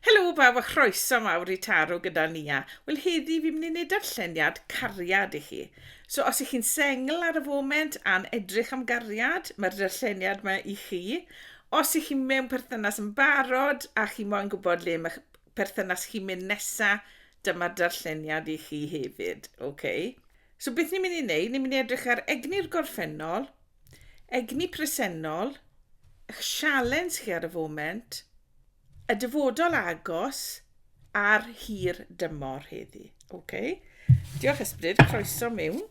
Helo bawb a chroeso mawr i Taro gyda Nia. Wel heddi fi'n mynd i wneud darlleniad cariad i chi. So os ych chi'n sengl ar y foment a'n edrych am gariad, mae'r darlleniad yma i chi. Os ych chi'n mewn perthynas yn barod a chi moyn gwybod le mae'ch perthynas chi'n mynd nesa, dyma'r darlleniad i chi hefyd. Okay. So beth ni'n mynd i wneud, ni'n mynd i edrych ar egni'r gorffennol, Egni presennol, eich sialens chi ar y foment, y dyfodol agos a'r hir dymor heddi. Okay. Diolch Ysbryd, croeso mewn.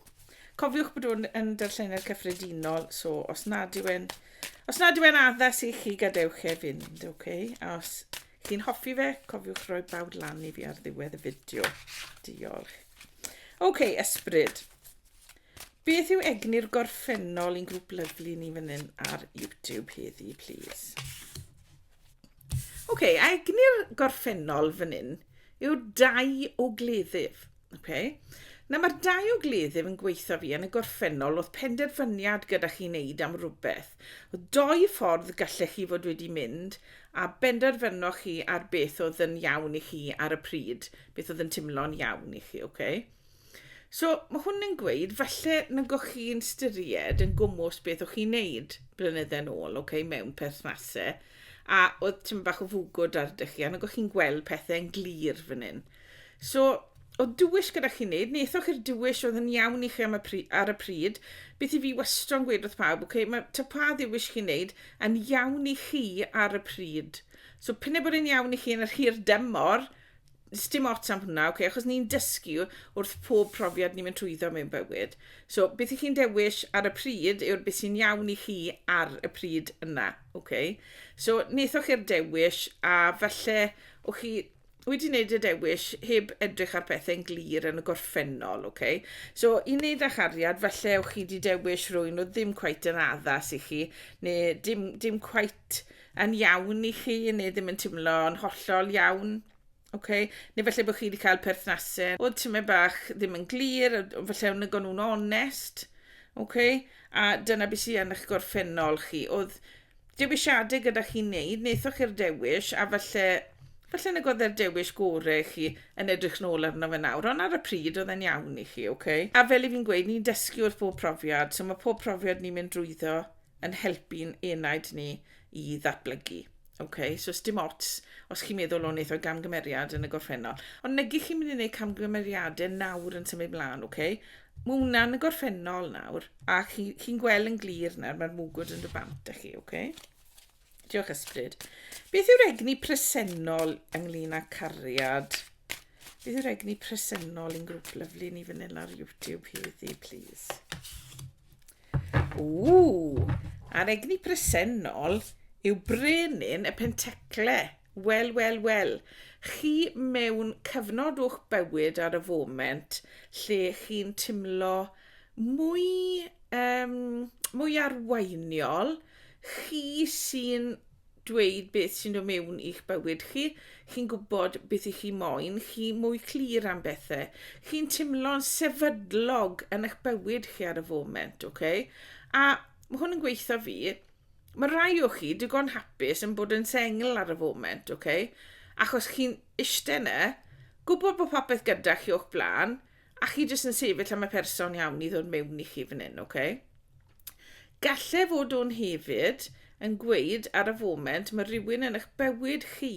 Cofiwch bod hwn yn darllenau cyffredinol, so os nad yw e'n os nad yw e'n addas i chi gadewch e fynd, okay? A os chi'n hoffi fe, cofiwch roi bawd lan i fi ar ddiwedd y fideo. Diolch. Okay, Ysbryd. Beth yw egni'r gorffennol i'n grŵp lyflu ni fan hyn ar YouTube heddi, plîs? Oce, okay, a egni'r gorffennol fan hyn yw dau o gleddyf. Okay? Nawr mae'r dau o gleddyf yn gweithio fi yn y gorffennol oedd penderfyniad gyda chi wneud am rhywbeth. O doi ffordd gallech chi fod wedi mynd a benderfynoch chi ar beth oedd yn iawn i chi ar y pryd, beth oedd yn timlo'n iawn i chi, oce? Okay? So, mae hwn yn gweud, falle nag o'ch chi'n styried yn gwmwys beth o'ch chi'n neud blynydde'n ôl, okay, mewn perthnasau, a oedd ti'n bach o fwgwd ar dych chi, a nag o'ch chi'n gweld pethau'n glir fan hyn. So, o dywys gyda chi'n neud, nethoch i'r dywys oedd yn iawn i chi am y pri, ar y pryd, beth i fi wastron gweud wrth pawb, okay, mae ta pa ddiwys chi'n neud yn iawn i chi ar y pryd. So, pyn e bod yn iawn i chi yn yr hir dymor, sdim ots am hwnna, okay, achos ni'n dysgu wrth pob profiad ni'n mynd trwyddo mewn bywyd. So, beth i chi'n dewis ar y pryd yw'r beth sy'n iawn i chi ar y pryd yna. Okay? So, nethoch chi'r dewis a falle o chi wedi wneud y dewis heb edrych ar pethau'n glir yn y gorffennol. Okay? So, i wneud â chariad, falle o chi wedi dewis rwy'n o ddim cwait yn addas i chi, neu dim, dim cwait yn iawn i chi neu ddim yn timlo yn hollol iawn. Oce? Neu falle bod chi wedi cael perthnasedd oedd tymed bach ddim yn glir, falle o'n nhw'n nhw'n onest. Oce? A dyna beth sydd yn eich gorffennol chi. Oedd dewisiadau gyda chi'n neud, wnaethoch chi'r dewis a falle falle nag oedd e'r dewis gorau i chi yn edrych nôl arno fe nawr, ond ar y pryd oedd e'n iawn i chi, oce? A fel i fi'n gweud, ni'n dysgu wrth bob profiad, so mae pob profiad ni'n mynd drwyddo yn helpu'n enaid ni i ddatblygu. Ok, so os dim ots, os chi'n meddwl o'n eithaf gamgymeriad yn y gorffennol, ond negi chi'n mynd i wneud camgymeriadau nawr yn symud mlaen, ok? Mae hwnna'n y gorffennol nawr, a chi'n chi, chi gweld yn glir nawr, mae'r mwgwd yn dy bant â chi, ok? Diolch Ysbryd. Beth yw'r egni presennol ynglyn â cariad? Beth yw'r egni presennol yn grŵp lyflu ni fan hyn ar YouTube heddi, please? Ww, a'r egni presennol yw brenin y pentecle. Wel, wel, wel, chi mewn cyfnod o'ch bywyd ar y foment lle chi'n timlo mwy, um, mwy arweiniol, chi sy'n dweud beth sy'n dod mewn i'ch bywyd chi, chi'n gwybod beth i chi moyn, chi mwy clir am bethau, chi'n teimlo'n sefydlog yn eich bywyd chi ar y foment, oce? Okay? A mae hwn yn gweithio fi, Mae rhai o chi digon hapus yn bod yn sengl ar y foment, ok? Achos chi'n ishte 'na, gwbod bod popeth gyda chi o'ch blaen, a chi jyst yn sefyll am y person iawn i ddod mewn i chi fan hyn, ok? Galle fod o'n hefyd yn gweud ar y foment mae rhywun yn eich bywyd chi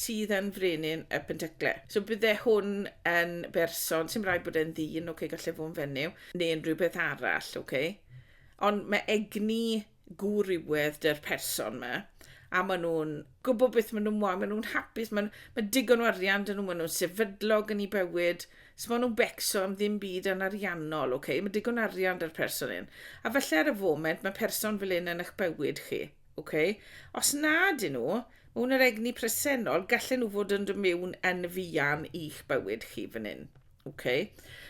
sydd yn frenin y pentycle. So bydde hwn yn berson, sy'n rhaid bod e'n ddyn, ok, galle fod yn fenyw, neu unrhyw beth arall, ok? Ond mae egni gwrywedd dy'r person yma, a maen nhw'n gwybod beth maen nhw'n moyn, maen nhw'n hapus, maen nhw, mae digon o arian dyn nhw, maen nhw'n sefydlog yn ei bywyd, so maen nhw'n becso am ddim byd yn ariannol, okay? mae digon o arian dy'r person hyn. A felly ar y foment, mae person fel un yn eich bywyd chi. Okay? Os nad yn nhw, mewn yr egni presennol, gallen nhw fod yn dod mewn yn fuan i'ch bywyd chi fan hyn. Ok.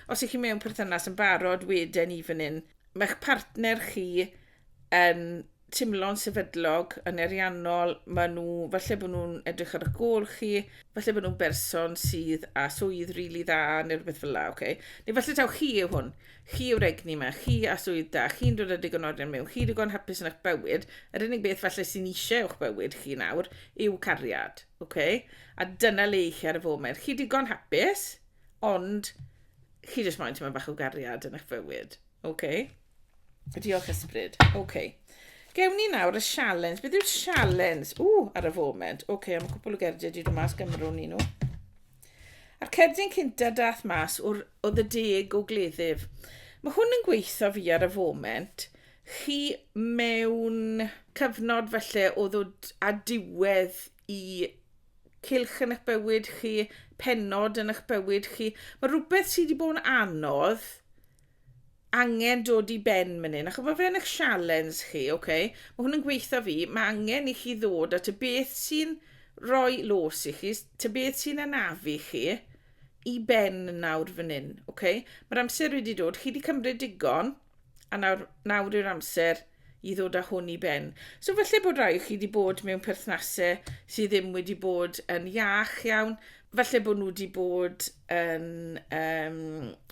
Os ych chi mewn perthynas yn barod, wedyn i fan hyn, mae'ch partner chi yn timlo'n sefydlog, yn eriannol, maen nhw, falle bod nhw'n edrych ar y gol chi, falle bod nhw'n berson sydd a swydd rili really dda neu rhywbeth fel la, okay? Neu falle taw chi yw hwn, chi yw'r egni yma, chi a swydd da, chi'n dod â digon o arian mewn, chi digon hapus yn eich bywyd, yr unig beth falle sy'n eisiau o'ch bywyd chi nawr yw cariad. Oce, a dyna le i chi ar y foment. Chi digon hapus, ond chi jyst moyn tyma'n bach o gariad yn eich fywyd. Oce? Diolch ysbryd. Oce. Gewn ni nawr y sialens. Beth yw'r sialens? O, ar y foment. Oce, am cwpl o gerdiau wedi dod mas gymro ni nhw. A'r cerdyn cynta dath mas oedd y deg o gleddyf. Mae hwn yn gweithio fi ar y foment. chi mewn cyfnod falle o ddod â diwedd i cylch yn eich bywyd chi, pennod yn eich bywyd chi. Mae rhywbeth sydd wedi bod yn anodd angen dod i ben mynd hyn. Ac mae fe'n eich sialens chi, oce? Okay? Mae hwn yn gweithio fi, mae angen i chi ddod at y beth sy'n rhoi los i chi, ty beth sy'n anafu chi i ben nawr fan hyn, oce? Okay? Mae'r amser wedi dod, chi wedi cymryd digon, A nawr, nawr yw'r amser i ddod â hwn i ben. So felly bod rhai o chi wedi bod mewn perthnasau sydd ddim wedi bod yn iach iawn, felly bod nhw wedi bod yn um,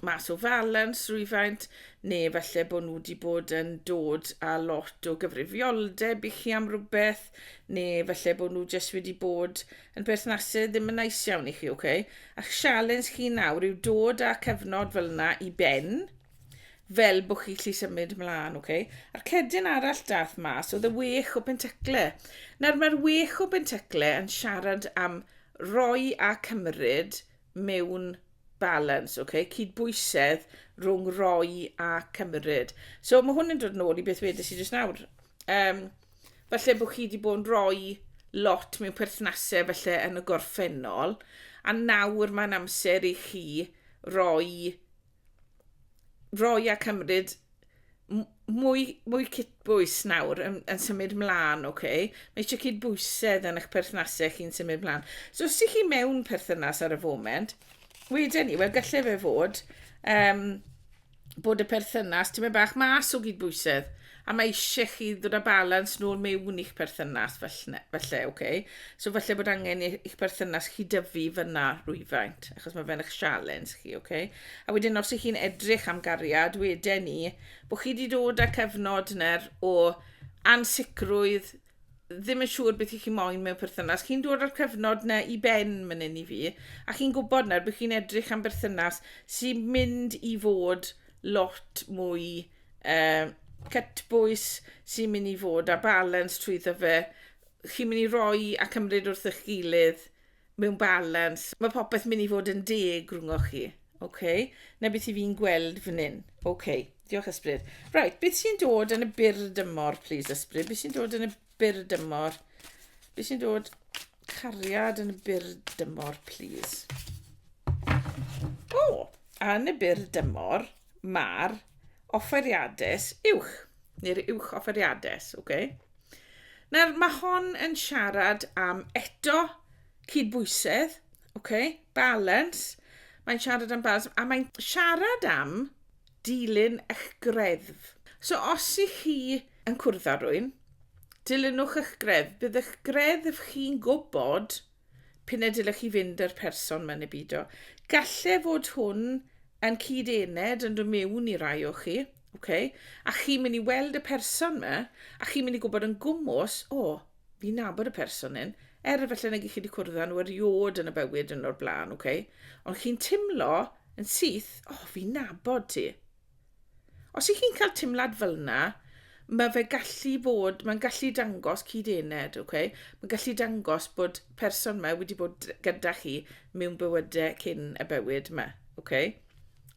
mas o falans rwyfaint, neu felly bod nhw wedi bod yn dod â lot o gyfrifioldeb i chi am rhywbeth, neu felly bod nhw jyst wedi bod yn perthnasau ddim yn nais iawn i chi, oce? Okay? A'ch sialens chi nawr yw dod â cyfnod fel yna i ben, fel bod chi lli symud mlaen, oce? Okay? A'r cedyn arall dath mas oedd y wech o bentacle. Nawr mae'r wech o bentacle yn siarad am roi a cymryd mewn balance, oce? Okay? Cydbwysedd rhwng roi a cymryd. So mae hwn yn dod yn ôl i beth wedys i jyst nawr. Um, falle bod chi wedi bod yn rhoi lot mewn perthnasau felly yn y gorffennol, a nawr mae'n amser i chi roi roi a cymryd mwy, mwy cydbwys nawr yn, yn symud mlaen, oce? Okay? Mae eisiau cydbwysedd yn eich perthnasau chi'n symud mlaen. So os ydych chi mewn perthynas ar y foment, wedyn ni, wel gallai fe fod um, bod y perthynas ti'n mynd bach mas o gydbwysedd. A mae eisiau chi ddod â balans nôl mewn i'ch perthynas, falle, falle, oce? Okay? So falle bod angen i- i'ch perthynas chi dyfu fyna rhywfaint, achos mae fe'n eich sialens chi, oce? Okay? A wedyn os ych chi'n edrych am gariad, wedyn ni, bod chi wedi dod â cyfnod yna'r o ansicrwydd, ddim yn siŵr beth i chi moyn mewn perthynas. Chi'n dod o'r cyfnod yna i ben mynd yn i fi, a chi'n gwybod nawr bod chi'n edrych am berthynas sy'n mynd i fod lot mwy uh, cytbwys sy'n mynd i fod a balans trwy ddyfe. Chi'n mynd i roi a cymryd wrth eich gilydd mewn balans. Mae popeth mynd i fod yn deg rhwngwch chi. Okay? Na beth i fi'n gweld fan hyn. Okay. Diolch Ysbryd. Right, beth sy'n dod yn y byr dymor, please Ysbryd? Beth sy'n dod yn y byr dymor. Beth sy'n dod cariad yn y byr dymor, please? O, oh, yn y byr dymor, mae'r offeriades uwch, neu'r uwch offeriades, oce? Okay? Nawr, mae hon yn siarad am eto cydbwysedd, oce? Okay? Balance. Mae'n siarad am balance, a mae'n siarad am dilyn eich greddf. So os ych chi yn cwrdd â rwy'n, dilynwch eich greddf. Bydd eich greddf chi'n gwybod p'un y dylech chi fynd â'r person mae'n ei bido. Gallai fod hwn yn cyd-ened yn dod mewn i rai o chi, okay? a chi'n mynd i weld y person yma, a chi'n mynd i gwybod yn gwmws, o, oh, fi'n nabod y person hyn, er efallai nag ych chi wedi cwrdd â nhw eriod yn y bywyd yn o'r blaen, okay? ond chi'n timlo Yn syth, O, fi'n nabod ti. Os ych chi'n cael timlad fel yna, mae fe gallu fod, mae'n gallu dangos cyd-ened, okay? mae'n gallu dangos bod person yma wedi bod gyda chi mewn bywydau cyn y bywyd yma, okay?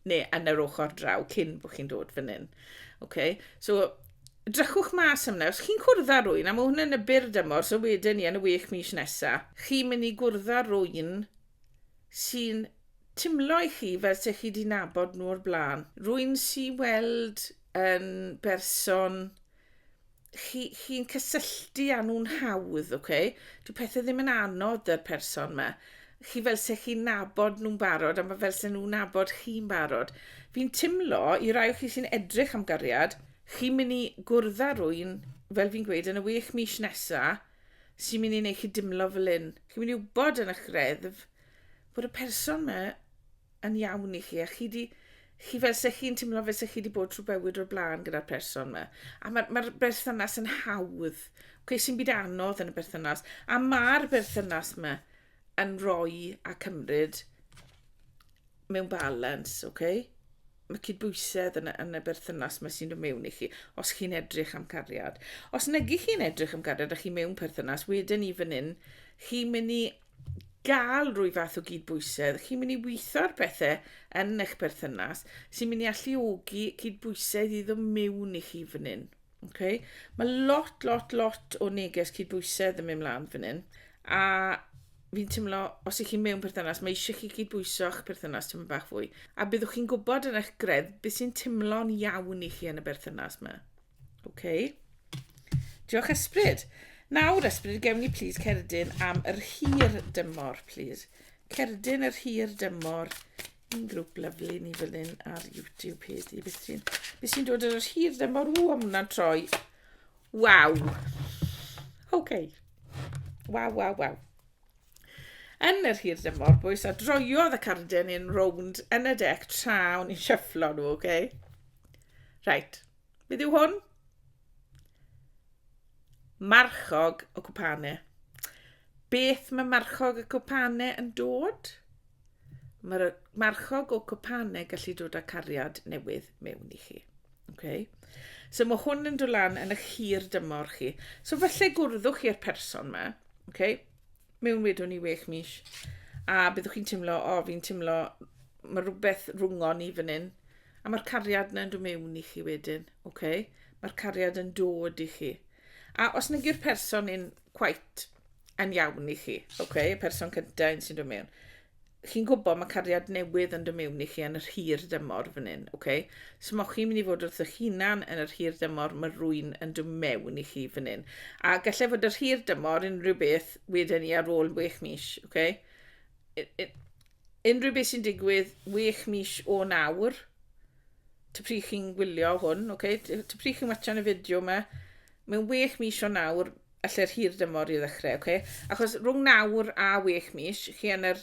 neu yn yr ochr draw cyn bod chi'n dod fan hyn. Okay? So, drychwch mas am yna. Os chi'n cwrdd â rwy'n, a mae hwn yn y byr dymor, so wedyn ni yn y wech mis nesaf, chi'n mynd i gwrdd â rwy'n sy'n timlo i chi fel se chi 'di nabod nhw o'r blaen. Rwy'n si weld yn berson chi chi'n cysylltu â nhw'n hawdd, oce? Okay? Dyw pethe ddim yn anodd 'da'r person 'ma. Chi fel se chi'n nabod nhw'n barod a ma' fel se nhw'n nabod chi'n barod. Fi'n timlo i rai o chi sy'n edrych am gariad, chi'n myn' i gwrdd â rywun, fel fi'n gweud, yn y wech mis nesa, sy'n mynd i wneud chi dimlo fel hyn. Chi'n mynd i wybod yn eich reddf bod y person yma yn iawn i chi a chi di chi fel se chi'n teimlo fel se chi wedi bod trwy bywyd o'r blaen gyda'r person yma. A mae'r ma berthynas yn hawdd. Cwe sy'n byd anodd yn y berthynas. A mae'r berthynas yma yn rhoi a cymryd mewn balans, ok? Mae cydbwysedd yn, yn y berthynas mae sy'n dod mewn i chi, os chi'n edrych am cariad. Os negi chi'n edrych am cariad a chi mewn perthynas, wedyn i fan hyn, chi'n mynd i gael rwy fath o gydbwysedd, chi'n mynd i weithio ar bethau yn eich perthynas sy'n mynd i alluogi cydbwysedd i ddod mewn i chi fan hyn. Okay. Mae lot, lot, lot o neges cydbwysedd yn mynd mlaen fan hyn. A fi'n teimlo, os ych chi'n mewn perthynas, mae eisiau chi cydbwyso eich perthynas tymor bach fwy. A byddwch chi'n gwybod yn eich gredd beth sy'n teimlo'n iawn i chi yn y berthynas yma. Okay. Diolch ysbryd. Nawr ysbryd, gewn ni plis cerdyn am yr hir dymor, plis. Cerdyn yr hir dymor Un grŵp lyflu ni fan hyn ar YouTube page di. Beth sy'n be sy'n dod ar yr hir ddim o'r ww am hwnna'n troi. Waw. OK. Waw, waw, waw. Yn yr hir ddim o'r bwys a droiodd y carden yn rownd yn y dec tra o'n i'n shufflo nhw, OK? Right. Beth yw hwn? Marchog y cwpane. Beth mae marchog y cwpane yn dod? Mae'r marchog o cwpane gallu dod â cariad newydd mewn i chi. Okay. So mae hwn yn dod lan yn eich hir dymor chi. So falle gwrddwch chi i'r person yma, okay, mewn wedwn i wech mis, a byddwch chi'n teimlo, o, fi'n teimlo, mae rhywbeth rhwng o'n i fan hyn, A mae'r cariad yna'n dod mewn i chi wedyn, oce? Okay? Mae'r cariad yn dod i chi. A os nag yw'r person yn quite yn iawn i chi, oce? Okay? Y person cyntaf yn sy'n dod mewn. Chi'n gwybod mae cariad newydd yn dod mewn i chi yn yr hir dymor fan hyn, oce? Okay? So mae chi'n mynd i fod wrth eich hunan yn yr hir dymor, mae rwy'n yn dod mewn i chi fan hyn. A gallai fod yr hir dymor unrhyw beth wedyn ni ar ôl 6 mis, oce? Okay? Unrhyw beth sy'n digwydd wech mis o nawr, ty pryd chi'n gwylio hwn, okay? ty pryd chi'n watchan y fideo yma, mewn wech mis o nawr, allai'r hir dymor i ddechrau, okay? Achos rhwng nawr a wech mis, chi yn yr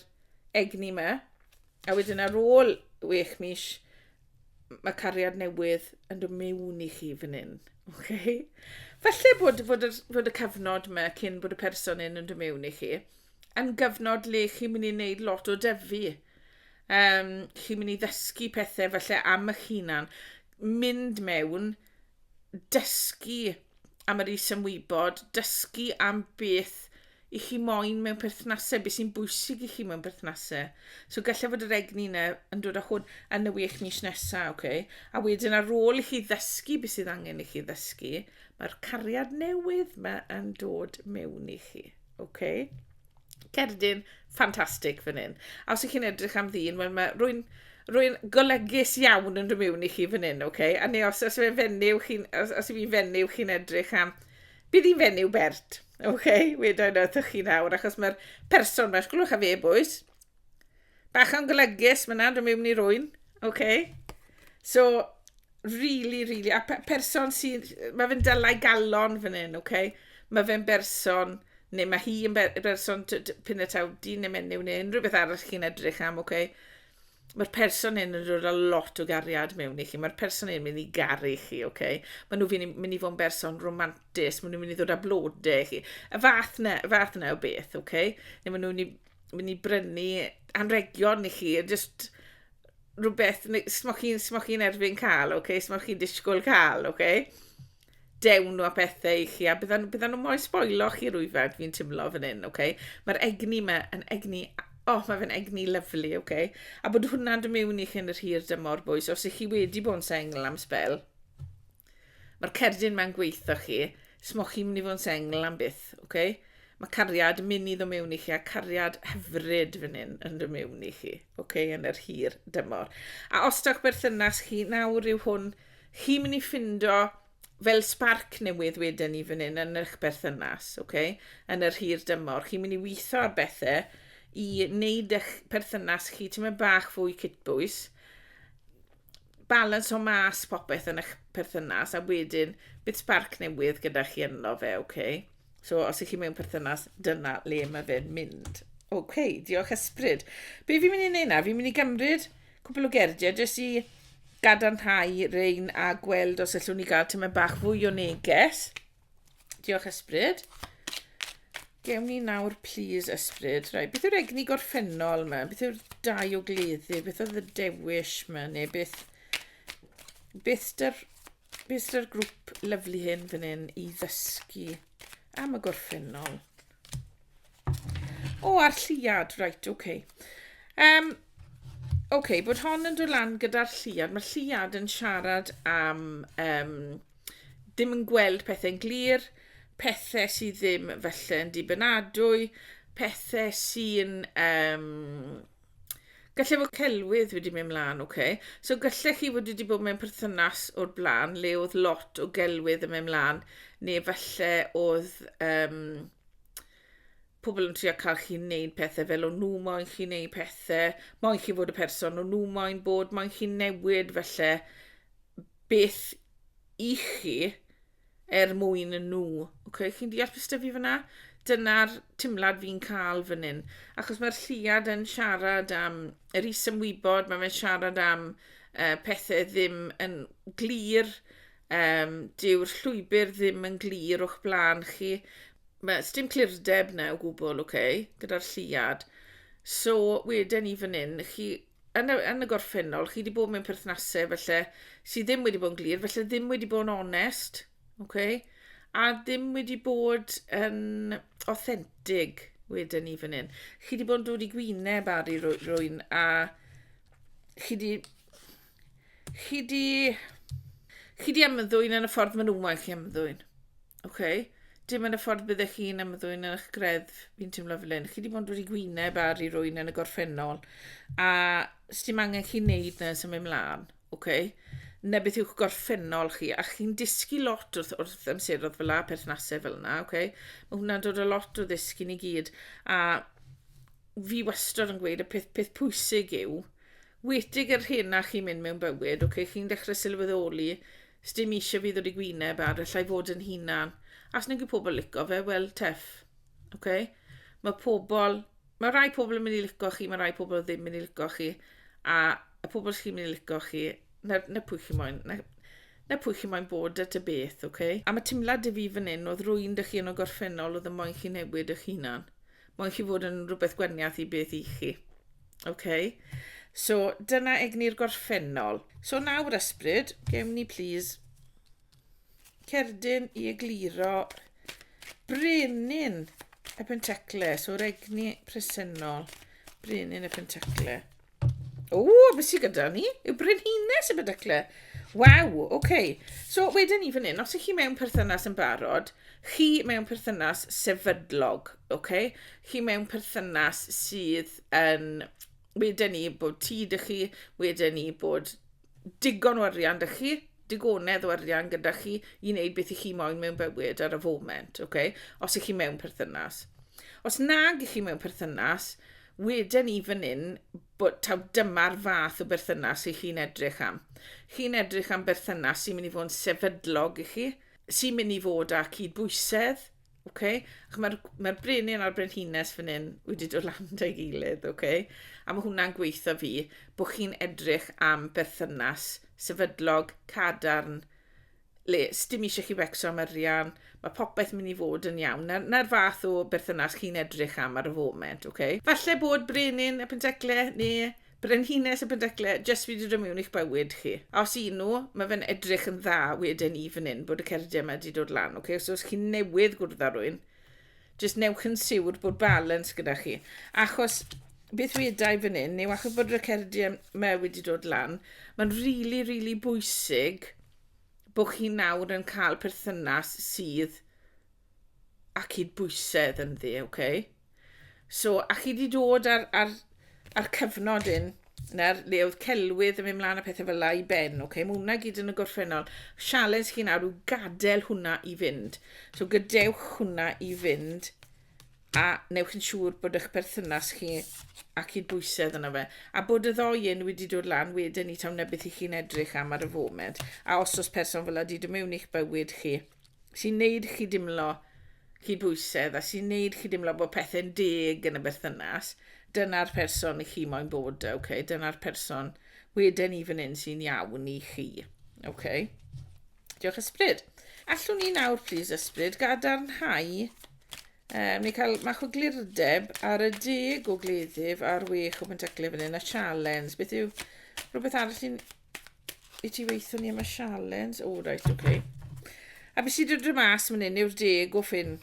egni yma, a wedyn ar ôl wech mis, mae cariad newydd yn dod mewn i chi fan hyn. Okay? Falle bod, bod, y, bod y cyfnod yma cyn bod y person hyn yn dod mewn i chi yn gyfnod le chi'n mynd i wneud lot o dyfu. Um, chi'n mynd i ddysgu pethau falle am eich hunan. Mynd mewn, dysgu am yr is-ymwybod, dysgu am beth i chi moyn mewn perthnasau, beth sy'n bwysig i chi mewn perthnasau. So gallai fod yr egni yna yn dod â hwn yn y wych mis nesaf, okay? a wedyn ar ôl i chi ddysgu beth sydd angen i chi ddysgu, mae'r cariad newydd mae yn dod mewn i chi. OK. Cerdyn, ffantastig fan hyn. A os ych chi'n edrych am ddyn, wel mae rwy'n rwy'n golygus iawn yn rhymiwn i chi fan hyn, oce? Okay? A neu os, os yw'n fenyw, chi'n, os, os yw'n fenyw, chi'n edrych am... Bydd hi'n fenyw bert, oce? Okay? Wedyn wrthych chi nawr, achos mae'r person mae'ch glwch a fe bwys. Bach o'n golygus, mae'n nad rhymiwn i rwy'n, oce? Okay? So, Really, really. A pe person sydd... Mae fe'n dylai galon fan hyn, oce? Okay? Mae fe'n berson, neu mae hi yn ber berson pyn y taw dyn neu menyw neu unrhyw beth arall chi'n edrych am, oce? Okay? Mae'r person hyn yn rhoi a lot o gariad mewn i chi. Mae'r person hyn yn mynd i garu chi, oce? Okay? Mae nhw mynd i fod yn berson romantis, mae nhw'n mynd i ddod â blodau chi. Y fath na, y fath na o beth, oce? Okay? Neu mae nhw'n mynd i brynu anregion i chi, just rhywbeth smoch chi'n smoch chi'n erbyn cael, oce, okay? smoch chi'n disgwyl cael, oce. Okay? Dewn nhw a pethau i chi, a byddan, byddan nhw mo'i sboilo chi rwyfed, fi'n tymlo fan hyn, oce. Okay? Mae'r egni yma yn egni, oh, mae fe'n egni lyflu, oce. Okay? A bod hwnna'n dy mewn i chi yn yr hir dymor, bwys, os ych chi wedi bod yn sengl am spel, Mae'r cerdyn ma'n gweitho chi, smoch chi'n mynd i fod yn sengl am byth, oce? Okay? Mae cariad yn mynd i ddod mewn i chi, a cariad hyfryd fan hyn yn dod mewn i chi, oce, okay? yn yr hir dymor. A os dawch berthynas chi, nawr yw hwn, chi'n mynd i ffindo fel sparc newydd wedyn ni fan hyn yn eich berthynas, oce, okay? yn yr hir dymor. Chi'n mynd i weithio ar bethau i wneud eich perthynas chi, ti'n mynd bach fwy cytbwys, balansio mas popeth yn eich perthynas a wedyn bydd sparc newydd gyda chi yno fe, oce? Okay? So, os ych chi mewn perthynas, dyna le mae fe'n mynd. Oce, okay, diolch ysbryd. Be fi'n mynd i wneud na? Fi'n mynd i gymryd cwbl o gerdiau jyst i gadarnhau rein a gweld os allwn ni gael tyma bach fwy o neges. Diolch ysbryd. Gewn ni nawr plîs ysbryd. Rai, beth yw'r egni gorffennol yma? Beth yw'r dau o gleddu? Beth oedd y dewis yma? Neu beth... Beth dy'r... Beth dy'r grŵp lyflu hyn fan hyn i ddysgu am y gorffennol? O, a'r lliad, reit, ok. Um, ok, bod hon yn dod lan gyda'r lliad. Mae'r lliad yn siarad am um, ddim yn gweld pethau'n glir, pethau sydd ddim felly yn dibynadwy, pethau sy'n... Um, Gallai fod celwydd wedi mynd mlaen, oce. Okay. So gallech chi fod wedi bod mewn perthynas o'r blaen le oedd lot o gelwydd yn mynd mlaen, neu falle oedd um, pobl yn trio cael chi'n neud pethau fel o'n nhw moyn chi'n neud pethau, moyn chi fod y person o'n nhw moyn bod, moyn chi'n newid falle beth i chi er mwyn nhw. Okay, chi'n deall beth sydd fi fyna? Dyna'r timlad fi'n cael fan hyn. Achos mae'r lliad yn siarad am yr isymwybod, mae fe'n siarad am uh, pethau ddim yn glir, um, dyw'r llwybr ddim yn glir o'ch blaen chi. Mae dim clirdeb na o gwbl, okay, gyda'r lliad. So, wedyn ni fan hyn, chi yn y, yn y gorffennol, chi wedi bod mewn perthnasau felly, sydd ddim wedi bod yn glir, felly ddim wedi bod yn onest, okay? a ddim wedi bod yn authentic wedyn ni fan hyn. Chi wedi bod yn dod i gwyneb ar ei rwy'n a chi wedi... Chi wedi... Chi wedi ymddwyn yn y ffordd maen nhw'n moyn chi ymddwyn. OK. Dim yn y ffordd byddech chi'n ymddwyn yn eich greddf, fi'n teimlo fel hyn. Chi wedi bod wedi gwyneb ar i rwy'n yn y gorffennol, a sdim angen chi'n neud na sy'n mynd mlaen, OK? Na beth yw'ch gorffennol chi, a chi'n dysgu lot wrth, wrth amserodd fel la, perthnasau fel yna, OK? Mae hwnna'n dod o lot o ddysgu ni gyd, a fi wastad yn gweud y peth, peth pwysig yw, wedig yr hyn na chi'n mynd mewn bywyd, OK? Chi'n dechrau sylweddoli Sdim eisiau fi ddod i gwyneb ar y llai fod yn hunan. As nag yw pobl lico fe, wel, teff. Okay? Mae pobl... Mae rai pobl yn mynd i lico chi, mae rai pobl ddim yn mynd i lico chi. A y pobl sy'n mynd i lico chi, na, na pwy chi moyn. Na, na pwy chi moyn bod at y beth, oce? Okay? A mae timlad i fi fan hyn, oedd rwy'n dych chi yn o gorffennol oedd y moyn chi newid eich hunan. Moyn chi fod yn rhywbeth gwaniath i beth i chi. Okay. So, dyna egni'r gorffennol. So nawr ysbryd, gewn ni plîs cerdyn i egluro brenin y pentacle. So'r egni presennol, brenin y pentacle. O, beth sy'n gyda ni? Yw brenhines y pentacle. Waw, oce. Okay. So, wedyn ni fan hyn, os ych chi mewn perthynas yn barod, chi mewn perthynas sefydlog, oce? Okay? chi mewn perthynas sydd yn wedyn ni bod ti dy chi, wedyn ni bod digon o arian dy chi, digonedd o arian gyda chi i wneud beth i chi moyn mewn bywyd ar y foment, okay? os ych chi mewn perthynas. Os nag ych chi mewn perthynas, wedyn ni fan hyn, bod, taw dyma'r fath o berthynas i chi'n edrych am. Chi'n edrych am berthynas sy'n mynd i fod yn sefydlog i chi, sy'n mynd i fod â cydbwysedd, Oce? Ach mae'r mae'r brenin a'r brenhines fan hyn wedi dod lan 'da'i gilydd, oce? A mae hwnna'n gweitha fi bod chi'n edrych am berthynas sefydlog, cadarn, le sdim eisiau chi fecso am arian, mae popeth mynd i fod yn iawn. Na'r, na'r fath o berthynas chi'n edrych am ar y foment, oce? Falle bod brenin y Pentecle neu Brenhines y Penrhecle, jyst fi 'di dod mewn i'ch bywyd chi. A os un nhw, mae fe'n edrych yn dda wedyn i fan hyn bod y cerdiau yma 'di dod lan, ok? So os chi'n newydd gwrdd â rwy'n, jyst newch yn siwr bod balans gyda chi. Achos beth wedau fan hyn yw achos bod y cerdiau yma wedi dod lan, mae'n rili, really, rili really bwysig bod chi nawr yn cael perthynas sydd a cydbwysedd ynddi, oce? Okay? So, a chi wedi dod ar, ar, ar cyfnod un, na'r le oedd celwydd yn mynd mlaen a pethau fel la i ben, oce? Okay? Mae hwnna gyd yn y gorffennol. Sialens chi nawr yw gadael hwnna i fynd. So, gadewch hwnna i fynd a newch yn siŵr bod eich perthynas chi a cydbwysedd yna fe. A bod y ddoi un wedi dod lan wedyn i tawn na beth i chi'n edrych am ar y foment. A os oes person fel ydy, dyma mewn i'ch bywyd chi. sy'n neud chi dimlo cydbwysedd a sy'n neud chi dimlo bod pethau'n deg yn y berthynas, dyna'r person i chi moyn bod, okay? dyna'r person weden i fan hyn sy'n iawn i chi. Okay? Diolch ysbryd. Allwn ni nawr, plis ysbryd, gadarnhau um, neu cael mach o glirdeb ar y deg o gleddyf a'r wech o pentaclau fan hyn, a sialens. Beth yw rhywbeth arall sy'n i ti weithio ni am y sialens. O, reit, oce. Okay. A beth sydd wedi mas fan hyn yw'r deg o ffyn.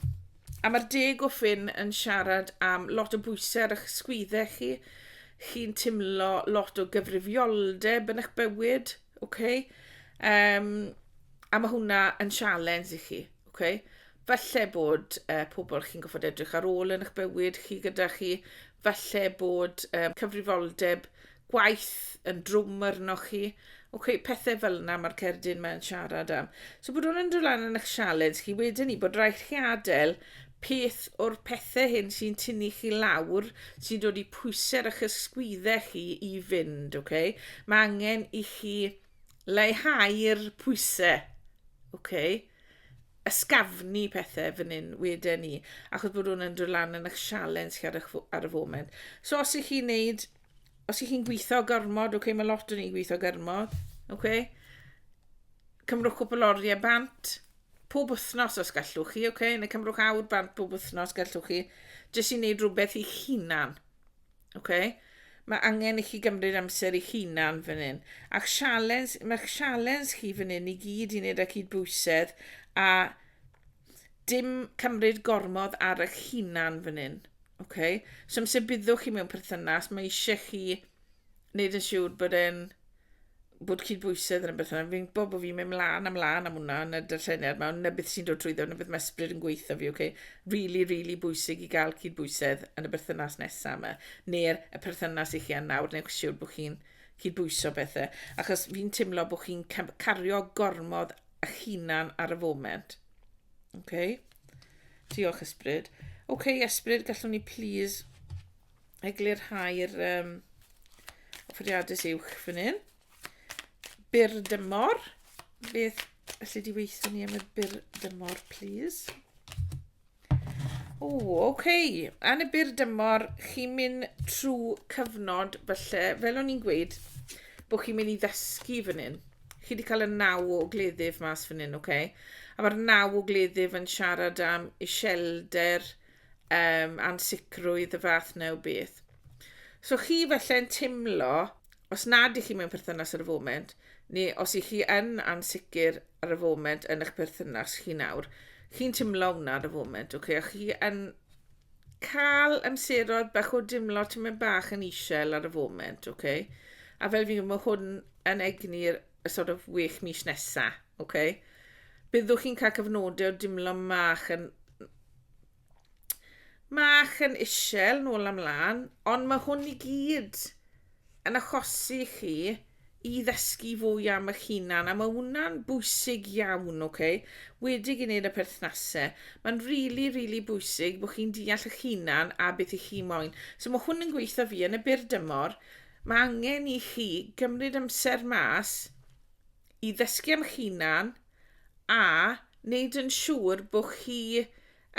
A mae'r deg o ffyn yn siarad am lot o bwysau ar eich sgwyddau chi. Chi'n timlo lot o gyfrifioldeb yn eich bywyd, oce? Okay? Um, a mae hwnna yn sialens i chi, oce? Okay? Falle bod uh, pobl chi'n goffod edrych ar ôl yn eich bywyd chi gyda chi. Falle bod um, cyfrifoldeb gwaith yn drwm arnoch chi. Oce, okay, pethau fel yna mae'r cerdyn mae'n siarad am. So bod hwn yn dod lan yn eich sialens chi wedyn ni, bod rhaid chi adael peth o'r pethau hyn sy'n tynnu chi lawr, sy'n dod i pwysau eich ysgwyddau chi i fynd, oce? Okay? Mae angen i chi leihau'r pwysau, oce? Okay? ysgafnu pethau fan hyn wedyn ni, achos bod hwn yn dod lan yn eich sialens chi ar, eich, ar y foment. So os ych chi'n neud, os ych chi'n gweithio gormod, oce, okay, mae lot o'n i'n gweithio gormod, oce, okay? cymrwch cwpl oriau bant, pob wythnos os gallwch chi, oce, okay? neu cymrwch awr bant pob wythnos gallwch chi, jyst i wneud rhywbeth i'ch hunan. Oce? Mae angen i chi gymryd amser eich hunan fan hyn. Ac sialens, mae'ch sialens chi fan hyn i gyd i wneud â cydbwysedd a dim cymryd gormod ar eich hunan fan hyn. Oce? So amser byddwch chi mewn perthynas, mae eisiau chi wneud yn siŵr bod e'n bod cydbwysedd yn y beth yna. Fi'n gwybod bod fi'n mynd mlaen a mlaen am hwnna yn y darlleniad yma, ond na beth sy'n dod trwyddo, na beth mae ysbryd yn gweithio fi, okay? Really, really bwysig i gael cydbwysedd yn y berthynas nesaf yma, neu'r y perthynas i chi yn nawr, neu'ch siwr bod chi'n cydbwyso bethau. Achos fi'n teimlo bod chi'n cario gormod a hunan ar y foment. Okay? Diolch, ysbryd. Okay, ysbryd, gallwn ni please eglurhau'r um, offeriadus uwch fan hyn. Byr dymor. Beth allu di weithio ni am y byr dymor, please? O, oce. Okay. Yn y byr dymor, chi'n mynd trwy cyfnod, felly, fel o'n i'n gweud, bod chi'n mynd i ddysgu fan hyn. Chi wedi cael y naw o gleddyf mas fan hyn, oce? Okay? A mae'r naw o gleddyf yn siarad am iselder, um, ansicrwydd y fath neu beth. So chi felle'n timlo, os nad i chi mewn perthynas ar y foment, neu os i chi yn ansicr ar y foment yn eich perthynas chi nawr, chi'n timlo hwnna ar y foment, okay? a chi yn cael amseroedd bach o dimlo ti'n mynd bach yn eisiau ar y foment, okay? a fel fi, mae hwn yn egni'r sort of well mis nesaf, okay? byddwch chi'n cael cyfnodau o dimlo mach yn Mach yn isel, nôl am lan, ond mae hwn i gyd yn achosi chi i ddysgu fwy am eich hunan, a mae hwnna'n bwysig iawn, ok? Wedi gwneud y perthnasau, mae'n rili, really, rili really bwysig bod chi'n deall eich hunan a beth i chi moyn. So mae hwn yn gweithio fi yn y byr dymor, mae angen i chi gymryd amser mas i ddysgu am hunan a wneud yn siŵr bod chi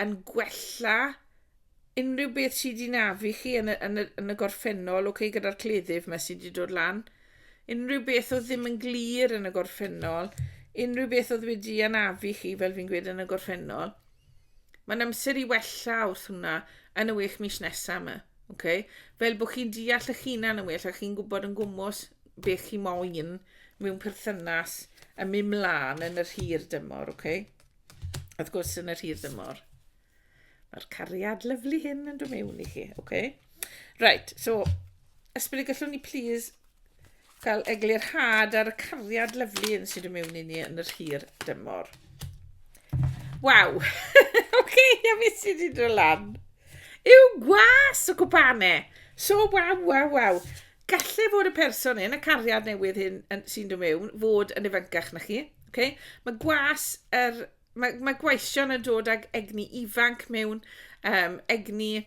yn gwella unrhyw beth sydd wedi nafu chi yn y, yn y, yn y gorffennol, okay, gyda'r cleddyf yma sydd wedi dod lan. Unrhyw beth oedd ddim yn glir yn y gorffennol, unrhyw beth oedd wedi anafu chi, fel fi'n gweud, yn y gorffennol. Mae'n amser i wella wrth hwnna yn y wech mis nesaf yma. Okay? Fel bod chi'n deall eich hunan yn well a chi'n gwybod yn gwmwys beth chi moyn mewn perthynas yn mynd mlaen yn yr hir dymor, oce? Okay? Wrth gwrs, yn yr hir dymor. Mae'r cariad lyflu hyn yn dod mewn i chi, oce? Okay? Right, so, ysbryd gallwn ni please cael eglurhad ar y cariad lyflu yn sydd yn mewn i ni yn yr hir dymor. Waw! Oce, okay, a mi sydd wedi dod lan. Yw gwas o gwbane! So, waw, waw, waw. Gallai fod y person yn y cariad newydd hyn sy'n dod mewn fod yn ifancach na chi. Okay? Mae gwas yr... Mae, mae gwaision yn dod ag egni ifanc mewn, um, egni,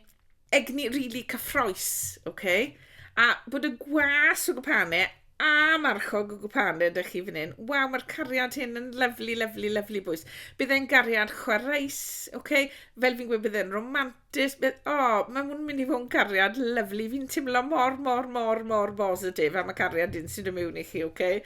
egni rili really cyffroes, okay? a bod y gwas o gwpane a marchog o gwpane ydych chi fan hyn. Waw, mae'r cariad hyn yn lyflu, lyflu, lyflu bwys. Bydd e'n gariad chwaraes, okay? fel fi'n gweud, bydd e'n romantic. Jyst mynd, o, mae hwn yn mynd i fod yn cariad lyflu. Fi'n teimlo mor, mor, mor, mor bositif am y cariad dyn sydd yn mewn i chi, oce? Okay?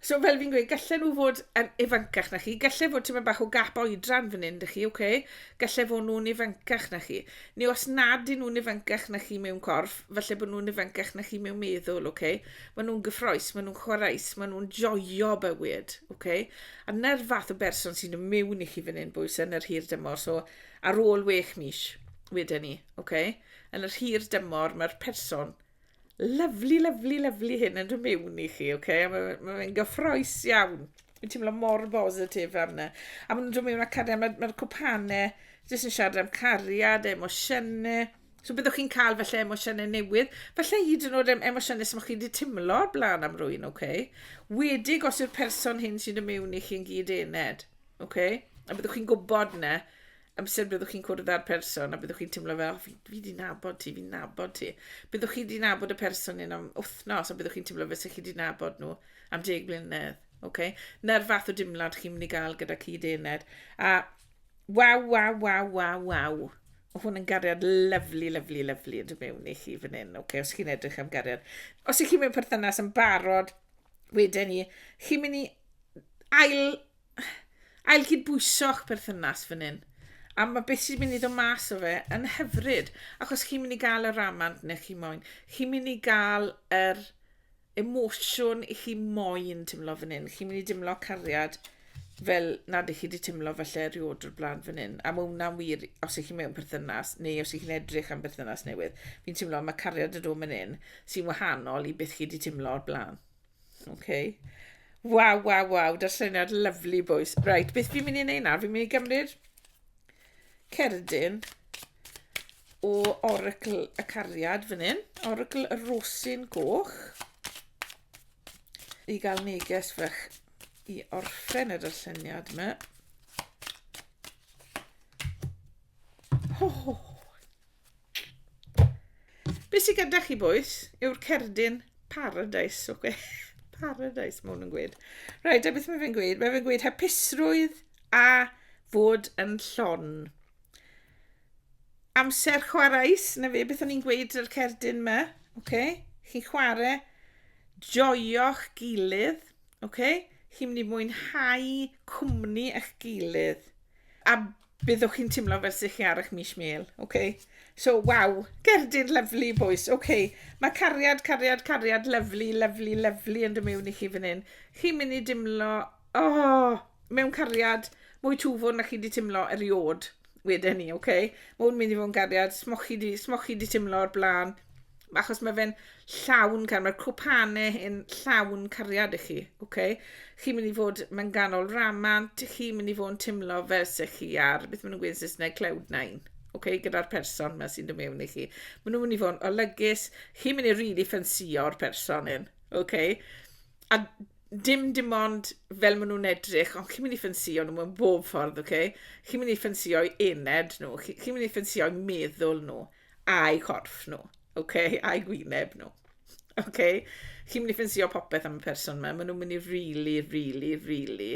So fel fi'n gweud, gallen nhw fod yn ifancach na chi, gallen fod ti'n mynd bach o gap oedran fan hyn, dych chi, oce? Okay? Gallen fod nhw'n ifancach na chi. Neu os nad yn nhw'n ifancach na chi mewn corff, falle bod nhw'n ifancach na chi mewn meddwl, oce? Okay? Mae nhw'n gyffroes, mae nhw'n chwaraes, mae nhw'n joio bywyd, oce? Okay? A na'r fath o berson sy'n mynd mewn i chi fan hyn, bwys, yn yr hir dymor, so Ar ôl wech mis, wedyn ni, ok? Yn yr hir dymor, mae'r person lyflu, lyflu, lyflu hyn yn rhywun mewn i chi, ok? A mae'n ma ma gyffroes iawn. Mae'n teimlo mor bositif am yna. A mae'n rhywun mewn a cariad, mae'r ma cwpanau jyst yn siarad am cariad, emosiynau. So byddwch chi'n cael felly emosiynau newydd, felly hyd yn oed emosiynau sy'n chi wedi teimlo blaen am rwy'n, ok? Wedig os yw'r person hyn sy'n y mewn i chi'n gyd ened. Oce? A byddwch chi'n gwybod 'na amser byddwch chi'n cwrdd â'r person a byddwch chi'n teimlo fel, oh, fi, fi di nabod ti, fi'n nabod ti. Byddwch chi di nabod y person yn am wythnos a byddwch chi'n teimlo fel sy'ch chi di nabod nhw am deg blynedd. Okay? Na'r fath o dimlad chi'n mynd i gael gyda cyd ened. A waw, waw, waw, waw, waw. Mae hwn yn gariad lyflu, lyflu, lyflu yn dod mewn i chi fan hyn, okay, os chi'n edrych am gariad. Os ych chi'n mewn perthynas yn barod, wedyn ni, chi'n mynd i ail ail cydbwyso'ch perthynas fan hyn. A mae beth sy'n mynd i ddod mas o fe yn hyfryd, achos chi'n mynd i gael y ramant neu chi moyn. Chi'n mynd i gael yr emosiwn i chi moyn teimlo fan hyn. Chi'n mynd i dimlo cariad fel nad ych chi wedi teimlo falle erioed o'r blaen fan hyn. A mae hwnna'n wir os ych chi mewn perthynas neu os ych chi'n edrych am berthynas newydd. Fi'n teimlo mae cariad y dod fan hyn sy'n wahanol i beth chi wedi teimlo o'r blaen. Okay. Waw, waw, waw, darlleniad lyflu bwys. Right, beth fi'n mynd i wneud nawr? Fi'n mynd i gymryd cerdyn o oracl y cariad fan hyn, oracl y rosyn goch, i gael neges fach i orffen y darlleniad yma. Oh, Be sydd gyda chi, boys, yw'r cerdyn paradise, oce? Paradise, mae hwn yn gweud. Rhaid, a beth mae fe'n gweud? Mae fe'n gweud hapusrwydd a fod yn llon. Amser chwaraes, na fe, beth o'n i'n gweud yr cerdyn yma, oce? Chi chwarae, joio'ch gilydd, oce? Chi'n mynd i mwynhau cwmni eich gilydd. A Byddwch chi'n timlo fel sych chi ar eich mis mêl, oce? Okay? So, waw, gerdir lyflu, boys, oce. Okay. Mae cariad, cariad, cariad, lyflu, lyflu, lyflu yn dymewn i chi fan hyn. Chi'n mynd i dimlo, oh, mewn cariad, mwy twfwn na chi wedi timlo eriod wedyn ni, oce? Okay? Mae'n mynd i fod yn gariad, smochi di, smochi di timlo o'r blaen. achos mae fe'n llawn gan, mae'r cwpane yn llawn cariad i chi, oce? Okay? Chi'n mynd i fod, mae'n ganol ramant, chi'n mynd i fod yn teimlo fel se chi ar, beth maen nhw'n gweud yn Saesneg, cloud nine, oce, okay? gyda'r person yma sy'n dod mewn i chi. Maen nhw'n mynd i fod yn olygus, chi'n mynd i rili really ffansio'r person hyn, oce? Okay? A dim dim ond fel maen nhw'n edrych, ond chi'n mynd i ffansio nhw mewn bob ffordd, oce? Okay? Chi'n mynd i ffansio'i ened nhw, chi'n mynd i ffansio'i meddwl nhw. A'u corff nhw, ok, a'u gwyneb nhw. Ok, chi'n mynd i ffensio popeth am y person yma, maen nhw'n mynd i really, really, really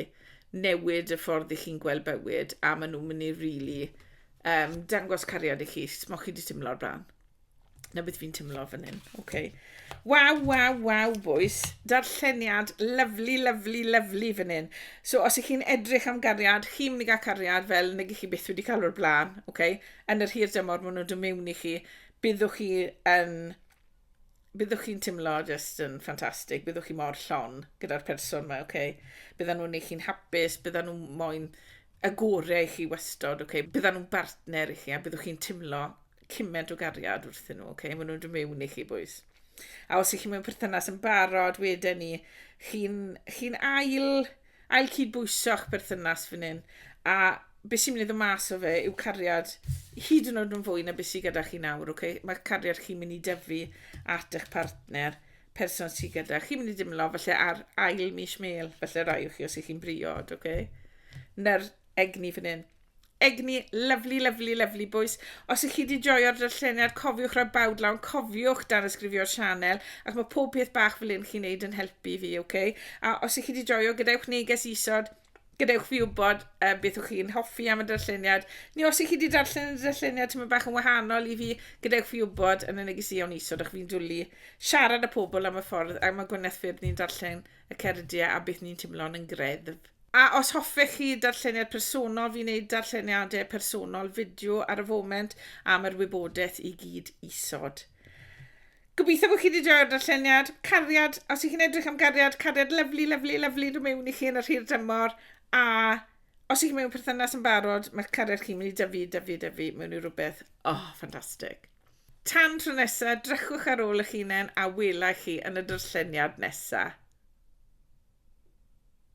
newid y ffordd i chi'n gweld bywyd, a maen nhw'n mynd i really um, dangos cariad i chi, mo chi wedi teimlo'r bran. Na beth fi'n teimlo fan hyn, ok. Waw, waw, waw, bwys. Darlleniad, lyflu, lyflu, lyflu fan hyn. So, os ych chi'n edrych am gariad, chi'n mynd i gael cariad fel nag ych chi byth wedi cael o'r blaen, ok? yn yr hir dymor maen nhw'n dod mewn i chi, byddwch chi yn byddwch chi'n timlo jyst yn ffantastig, byddwch chi mor llon gyda'r person yma, oce? Okay? Byddan nhw'n ei chi'n hapus, byddan nhw'n moyn y gorau i chi wastod, oce? Okay? Byddan nhw'n bartner i chi a byddwch chi'n timlo cymaint o gariad wrthyn nhw, oce? Okay? Maen nhw'n dod mewn i chi, bwys. A os ych chi mewn perthynas yn barod, wedyn ni, chi'n chi ail Ail cydbwyso'ch perthynas fan hyn, a beth sy'n mynd i ddod mas o fe yw cariad hyd yn oed yn fwy na beth sydd gyda chi nawr, okay? Mae cariad chi'n mynd i dyfu at eich partner, person sydd gyda. Chi'n mynd i dimlo falle ar ail mis mêl, falle rai o chi os ych chi'n briod, okay? Na'r egni fan hyn. Egni, lyfli, lyfli, lyfli bwys. Os ych chi wedi joio'r darlleniad, cofiwch rhoi bawd lawn, cofiwch dan ysgrifio'r sianel, ac mae pob peth bach fel un chi'n neud yn helpu fi, oce? Okay? A os ych chi wedi joio, gadewch neges isod, gadewch fi wybod um, beth ych chi'n hoffi am y darlleniad, neu os ych chi wedi darllen y darlleniad tyma bach yn wahanol i fi, gadewch fi wybod yn y neges iawn isod, ac fi'n dwlu siarad â pobl am y ffordd, a mae Gwyneth Ffyrdd ni'n darllen y Cerediau a beth ni'n timlo'n yn greddf. A os hoffech chi darlleniad personol, fi'n neud darlleniadau personol fideo ar y foment am yr wybodaeth i gyd isod. Gobeithio bod chi wedi joio'r darlleniad. Cariad, os ych chi'n edrych am gariad, cariad lyflu, lyflu, lyflu dod mewn i chi yn yr hir dymor. A os ych chi mewn perthynas yn barod, mae'ch cariad chi'n mynd i dyfu, dyfu, dyfu mewn i rhywbeth, oh, ffantastig. Tan tro nesa, drychwch ar ôl eich hunain a welai chi yn y darlleniad nesa.